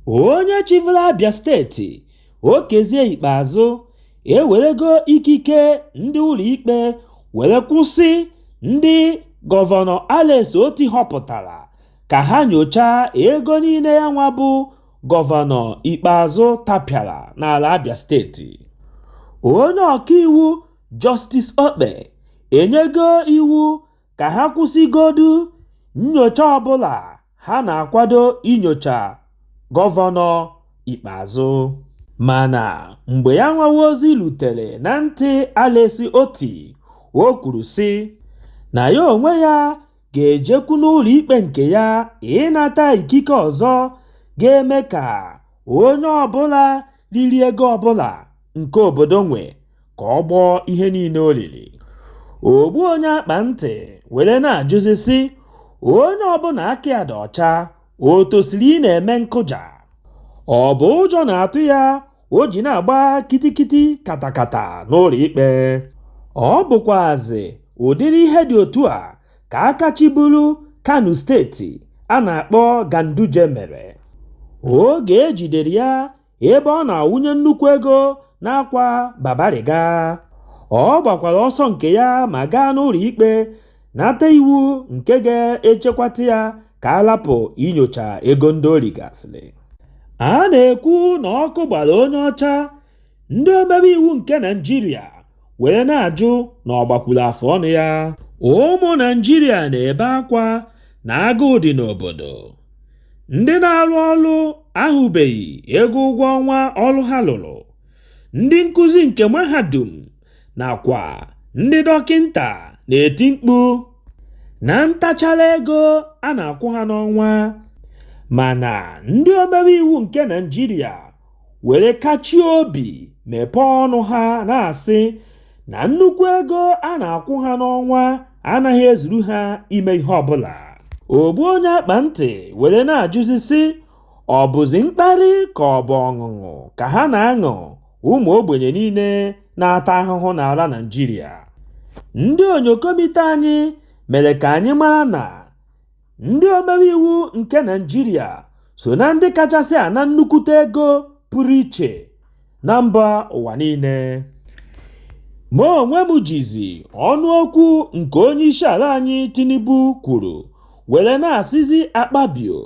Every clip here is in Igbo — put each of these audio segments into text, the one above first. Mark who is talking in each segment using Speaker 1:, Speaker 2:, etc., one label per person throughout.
Speaker 1: Onye chịburu Abia steeti, Okezie Ikpeazu, ewerego ikike ndị ụlọikpe were kwụsị ndị Gọvanọ Alex Otti họpụtara ka ha nyochaa ego niile yanwa bụ Gọvanọ Ikpeazu tapịara n'ala Abia steeti. Onye ọkaiwu Justice Okpe enyego iwu ka ha kwụsịgodu nnyocha ọbụla ha na-akwado inyocha Gọvanọ Ikpeazu. Mana mgbe ya nwawa ozi lutere na ntị Alex Otti, o kwuru sị na ya onwe ya ga-ejekwu n'ụlọikpe nke ya ịnata ikike ọzọ ga-eme ka onye ọbụla riri ego ọbụla nke obodo nwe ka ọ gbọọ ihe niile o riri ogbu onye akpa ntị were na-ajụzi sị onye ọbụla aka ya dị ọcha o tosiri ị na-eme nkụja ọ bụ ụjọ na-atụ ya o ji na-agba kitikiti katakata n'ụlọ ikpe ọ bụkwazị ụdịrị ihe dị otu a ka aka chịburu Kano steeti a na-akpọ Ganduje mere oge e jidere ya ebe ọ na-awụnye nnukwu ego n'akwa babariga. Ọ gbakwara ọsọ nke ya ma gaa n'ụlọ ikpe nata iwu nke ga-echekwata ya ka a lapụ inyocha ego ndị o rigasịrị. A na-ekwu na ọkụ gbara onye ọcha, ndị omebe iwu nke Naịjirịa were na-ajụ na ọ gbakwuru afọ ọnụ ya ụmụ naijiria na-ebe akwa na agụụ dị n'obodo ndị na-arụ ọrụ ahụbeghị ego ụgwọ ọnwa ọrụ ha lụrụ ndị nkụzi nke mahadum nakwa ndị dọkịnta na-eti mkpu na ntachara ego a na-akwụ ha n'ọnwa mana ndị omebe iwu nke naijiria were kachie obi mepee ọnụ ha na-asị na nnukwu ego a na-akwụ ha n'ọnwa anaghị ezuru ha ime ihe ọbụla ogbu onye akpa ntị were na-ajụzi sị ọ bụzi mkparị ka ọ bụ ọṅụṅụ ka ha na-aṅụ ụmụ ogbenye niile na-ata ahụhụ n'ala Naịjirịa ndị onyokomite anyị mere ka anyị mara na Ndị omebe iwu nke Naịjirịa so na ndị kachasị ana nnukwute ego pụrụ iche na mba ụwa niile. Mụ onwe m jizi ọnụ okwu nke onyeisiala anyị Tinubu kwuru were na-asịzi Akpabio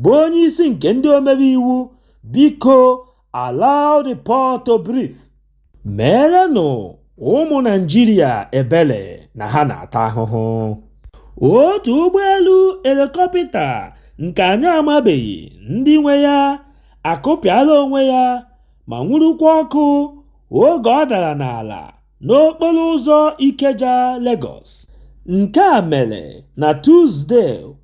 Speaker 1: bụ onyeisi nke ndị omebe iwu, biko allow the poor to breathe meerenụ ụmụ naịjirịa ebele na ha na-ata ahụhụ otu ụgbọelu elikọpịta nke anyị amabeghị ndị nwe ya akụpịala onwe ya ma nwurukwa ọkụ oge ọ dara n'ala n'okporo ụzọ Ikeja, Lagos. Nke a mere na Tuzde,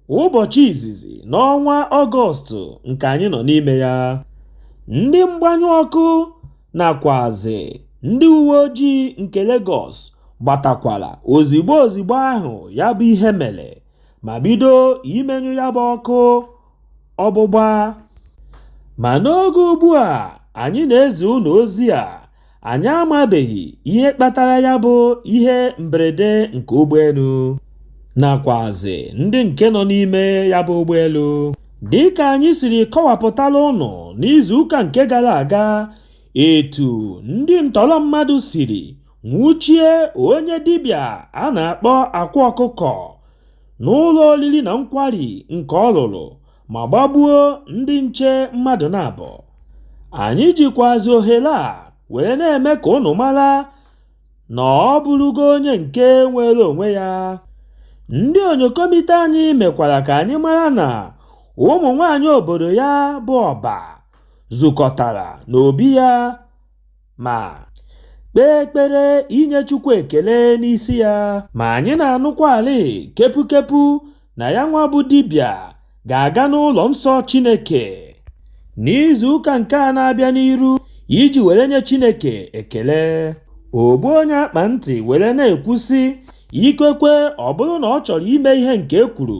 Speaker 1: ụbọchị izizi n'ọnwa Ọgọstụ nke anyị nọ n'ime ya. Ndị mgbanyụ ọkụ nakwazị ndị uwe ojii nke Lagos gbatakwara ozigbo ozigbo ahụ ya bụ ihe mere ma bido imenyụ ya bụ ọkụ ọgbụgba. Ma n'oge ugbu a anyị na-ezi unu ozi a, Anyị amabeghị ihe kpatara ya bụ ihe mberede nke ụgbọelu nakwazị ndị nke nọ n'ime ya bụ ụgbọelu. Dịka anyị siri kọwapụtala ụnụ n'izuụka nke gara aga etu ndị ntọrọ mmadụ siri nwụchie onye dibịa a na-akpọ Akwa Ọkụkọ n'ụlọ oriri na nkwari nke ọ lụrụ ma gbagbuo ndị nche mmadụ naabọ anyị jikwazi ohere a were na-eme ka ụnụ mara na ọ bụrụgo onye nke nwere onwe ya ndị onyokomite anyị mekwara ka anyị mara na ụmụ nwaanyị obodo ya bụ ọba zukọtara n'obi ya Ma kpee ekpere inye Chukwu ekele n'isi ya. Ma anyị na-anụkwalị kepukepu na ya nwa bụ dibịa ga-aga n'ụlọ nsọ Chineke n'izu ụka nke a na-abịa n'iru iji were nye Chineke ekele. Ogbu onye akpa ntị were na-ekwu sị, ikekwe ọ bụrụ na ọ chọrọ ime ihe nke e kwuru,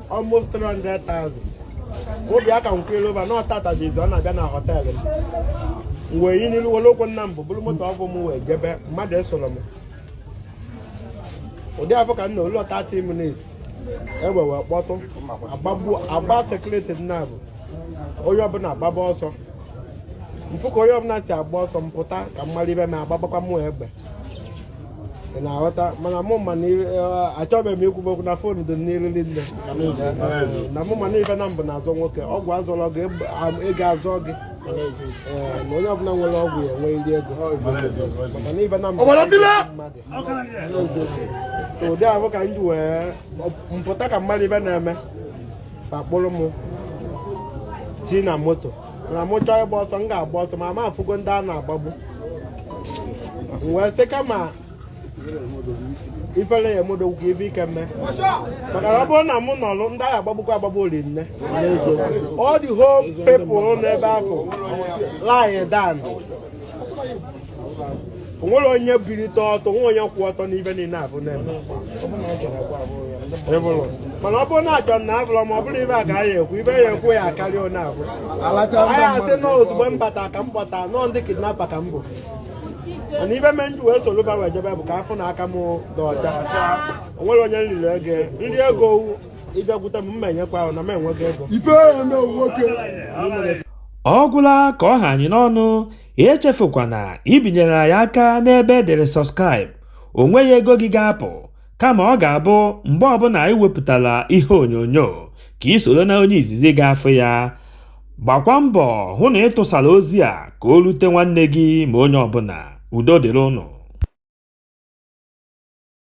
Speaker 2: almost 300,000 obi aka nkwere ụba na ọtatajizi ọ na-abịa na họteelụ m wee yi n'ilu were okwu nna m bụ buru moto ọfụụ m wee jebe mmadụ esoro m ụdị afọ ka m na ụlọ 30 minutes egbe wee kpọtụ agbagbu agba sekuriti naabọ onye ọbụla agbaba ọsọ m fụ ka onye ọbụla si agba ọsọ m pụta ka m mara ibe m agbagbakwa mụ egbe ị na-aghọta mana mụ ma na eh, achọbeghị m ikwube okwu na fon dị n'iru niile na mụ ma na ife naabọ na-azọ nwoke ọgwụ azọrọ gị ego azọ gị eh, na onye ọbụla nwere ọgwụ ya nwerịrị ego maka na ife naabọ mmadụ ụdị ahụ ka m ji wee pụta ka m mara ife na-eme fa akpụrụ m tii na moto na mụ chọọ ịgba ọsọ m ga-agba ọsọ ma m afụgo ndị a na-agbagbu M wee sị kama ifere ya-eme odogwu ka ive ike mee maka na ọ bụrụ na mụ nọrọ ndị a ga-agbagbukwa agbagbu ọra niine all the whole people n'ebe ahụ lie down o nwere onye bilite ọtọ nwe onye kwụ ọtọ n'ive niile avụ na-eme mana ọ bụrụ na a chọ na abụrọ ma ọ bụrụ ive a ka anyị ekwu ive a ekwu ya akarịa onye avụ anyị asị na ozugbo m bata ka m bata nọọ ndị kidnapa ka m bụ mana ive me m ji wee soro va wee jebe bụ ka a fụ na aka m dị ọcha o nwere onye m riri ego m ri ego ị bịakwute m mma enyekwa ahụ na m enweghị ego
Speaker 1: ọ gwụla ka ọ ha anyị n'ọnụ ya echefukwana ibinyere anyị aka n'ebe e dere subscribe o nweghị ego gị ga-apụ kama ọ ga-abụ mgbe ọbụla anyị wepụtara ihe onyonyo ka ị soro na onye izizi ga-afụ ya gbakwa mbọ hụ na ị tụsara ozi a ka o rute nwanne gị ma onye ọbụla udo dịrị ụnụ